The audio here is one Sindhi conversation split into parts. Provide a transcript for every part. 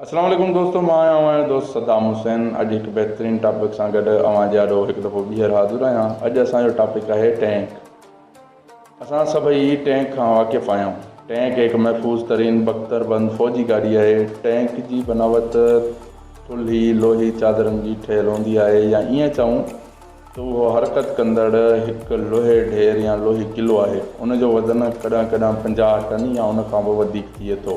السلام عليڪم دوستو مان آهيان اوهان جو دوست صدام حسين اڄ هڪ بهترين ٽاپڪ سان گڏ اوهان جي آڏو هڪ دفعو ٻيهر حاضر آهيان اڄ اسان جو ٽاپڪ آهي ٽينڪ اسان سڀئي ٽينڪ کان واقف آهيون ٽينڪ هڪ محفوظ ترين بختر بند فوجي گاڏي آهي ٽينڪ جي بناوت ٿلهي لوهي چادرن جي ٺهيل هوندي آهي يا ائين چئون ته اهو حرڪت ڪندڙ هڪ لوهي ڍير يا لوهي قلعو آهي. ان جو وزن ڪڏهن ڪڏهن پنجاهه ٽن يا ان کان به وڌيڪ ٿئي ٿو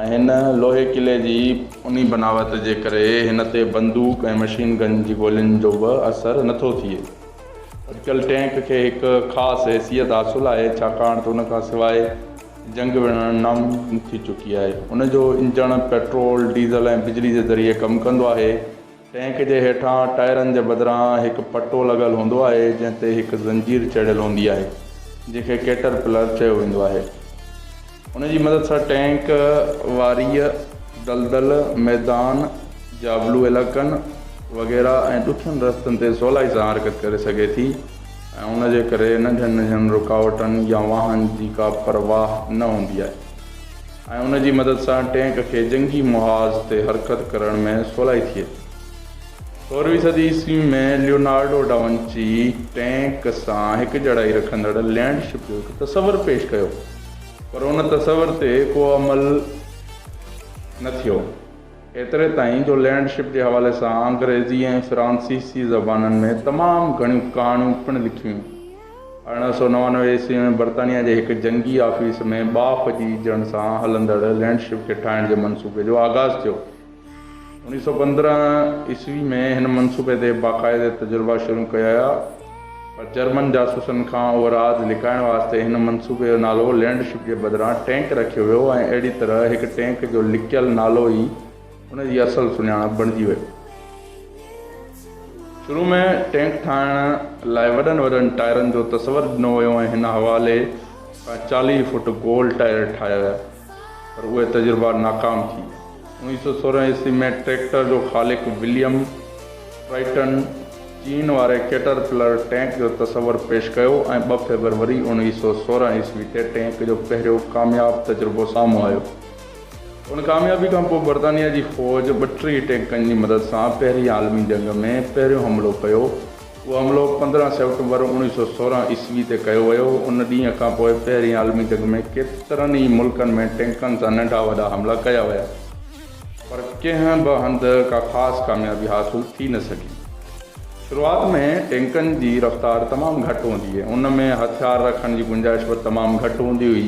۽ هن لوهي قلعي جي. انهي بناوت جي ڪري هن تي بندوق ۽ مشين گن جي گولين جو به اثر نه ٿو ٿئي. اٽڪل ٽينڪ کي هڪ خاص حيثيت حاصل آهي ڇاڪاڻ ته ان کان سواء جنگ وڙهڻ ناممڪن ٿي چڪي آهي. ان جو انجڻ پيٽرول، ڊيزل ۽ بجلي جي ذريعي ڪم ڪندو آهي ٽينڪ جي هيٺان ٽائرن جي بدران هڪ پٽو لڳل هوندو آهي جنهن تي هڪ زنجير چڙهيل هوندي آهي جنهن کي ڪيٽر پلر چيو ويندو آهي ان جي مدد سان ٽينڪ واريء دلدل ميدان جابلو علائقن وغيره ۽ ڏکين رستن تي سولائي سان حرڪت ڪري سگهي ٿي ۽ ان جي ڪري ننڍين ننڍين رڪاوٽن يا واهن جي ڪا پرواهه نه هوندي آهي ۽ ان جي مدد سان ٽينڪ کي جنگي محاذ تي حرڪت ڪرڻ ۾ سولائي ٿئي ٿي. سورهين صدي عيسوي ۾ ليونارڊو ڊاونچي ٽينڪ سان هڪجهڙائي رکندڙ لينڊ شپ جو هڪ تصور پيش ڪيو پر ان تصور تي ڪو عمل نه ٿيو ايتري تائين جو لينڊ شپ جي حوالي سان انگريزي ۽ فرانسيسي زبانن ۾ تمام گهڻيون ڪهاڻيون پڻ لکيون ارڙهن سؤ نوانوي عيسوي ۾ برطانيا جي هڪ جنگي آفيس ۾ ٻاڦ جي اجهڻ سان هلندڙ لينڊ شپ کي ٺاهڻ جي منصوبي جو آغاز ٿيو. اڻيهه سؤ پندرهن عيسوي ۾ هن منصوبي تي باقاعده تجربا شروع ڪياويا پر جرمن جاسوسن کان اهو راز لڪائڻ واسطي هن منصوبي جو نالو لينڊ شپ جي بدران ٽينڪ رکيو ويو ۽ اهڙي طرح هڪ ٽينڪ جو لڪيل نالو ئي ان جي اصل سڃاڻپ بڻجي وئي. شروع ۾ ٽينڪ ٺاهڻ لاء وڏن وڏن ٽائرن جو تصور ڏنو ويو ۽ هن حوالي کان چاليهه فوٽ گول ٽائر ٺاهيا ويا پر اهي تجربا ناڪام ٿي ويا. اوڻيهه سؤ سورهن عيسوي ۾ ٽريڪٽر جو خالق وليم ٽرائيٽن چين واري ڪيٽر پلر ٽينڪ جو تصور پيش ڪيو ۽ ٻه فيبروري اوڻيهه سؤ سورهن عيسوي تي ٽينڪ جو پهريون ڪامياب تجربو سامهون آيو. ان ڪاميابي کان پوء برطانيا جي فوج ٻٽيهه ٽينڪن جي مدد سان پهرين عالمي جنگ ۾ پهريون حملو ڪيو. اهو حملو پندرهن سيپٽمبر اوڻيهه سؤ سورهن عيسوي تي ڪيو ويو. ان ڏينهن کان پوء پهرين عالمي جنگ ۾ ڪيترن ئي ملڪن ۾ ٽينڪن سان ننڍا وڏا حملا ڪيا ويا پر ڪنهن به هنڌ ڪا خاص ڪاميابي حاصل ٿي نه سگهي. شروعات ۾ ٽينڪن جي رفتار تمام گهٽ هوندي هئي. ان ۾ هٿيار رکڻ جي گنجائش به تمام گهٽ هوندي هئي.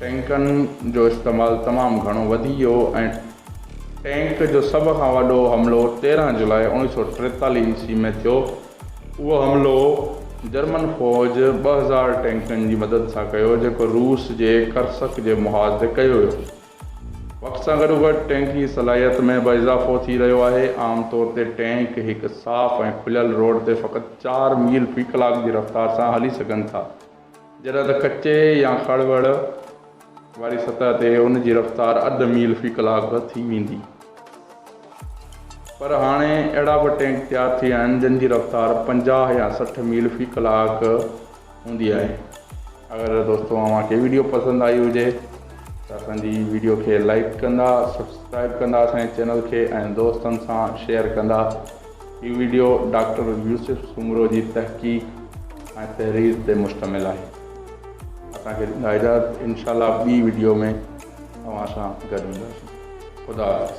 ٽينڪن جو استعمال تمام گهڻو وڌي ويو ۽ ٽينڪ جو سڀ کان وڏو حملو تيرهن جولاء اوڻيهه سؤ ٽيتاليهه عيسوي ۾ ٿيو. اهو حملو جرمن فوج ٻه هزار ٽينڪن جي مدد سان ڪيو جيڪو روس جي ڪرسڪ جي محاذ تي ڪيو ويو. وقت سان گڏوگڏ ٽينڪ جي صلاحيت ۾ به اضافو ٿي رهيو آهي. عام طور تي ٽينڪ هڪ صاف ۽ کليل روڊ تي فقط چار ميل في ڪلاڪ جي رفتار سان هلي سگهن ٿا. جڏهن ته ڪچي يا کڙ وڙ واري سطح تي ان جي رفتار اڌ ميل في ڪلاڪ به ٿي ويندي پر هاڻي اهڙا به ٽينڪ تيار ٿي ويا آهن جن جي رفتار پنجاهه يا سٺ ميل في ڪلاڪ هوندي آهي اگر دوستو اوهان کي ويڊيو پسند آئي هجي ته اسان جي ويڊيو کي لائڪ ڪندا سبسڪرائب ڪندا اسان جي چينل کي ۽ دوستن سان شيئر ڪندا هي وڊيو ڊاڪٽر يوسف سومرو جي تحقيق ۽ تحرير تي مشتمل آهي. اسان کي ڏيندا اجازت انشاء الله ٻي وڊيو ۾ اوهان سان گڏ هونداسين. خدا حافظ.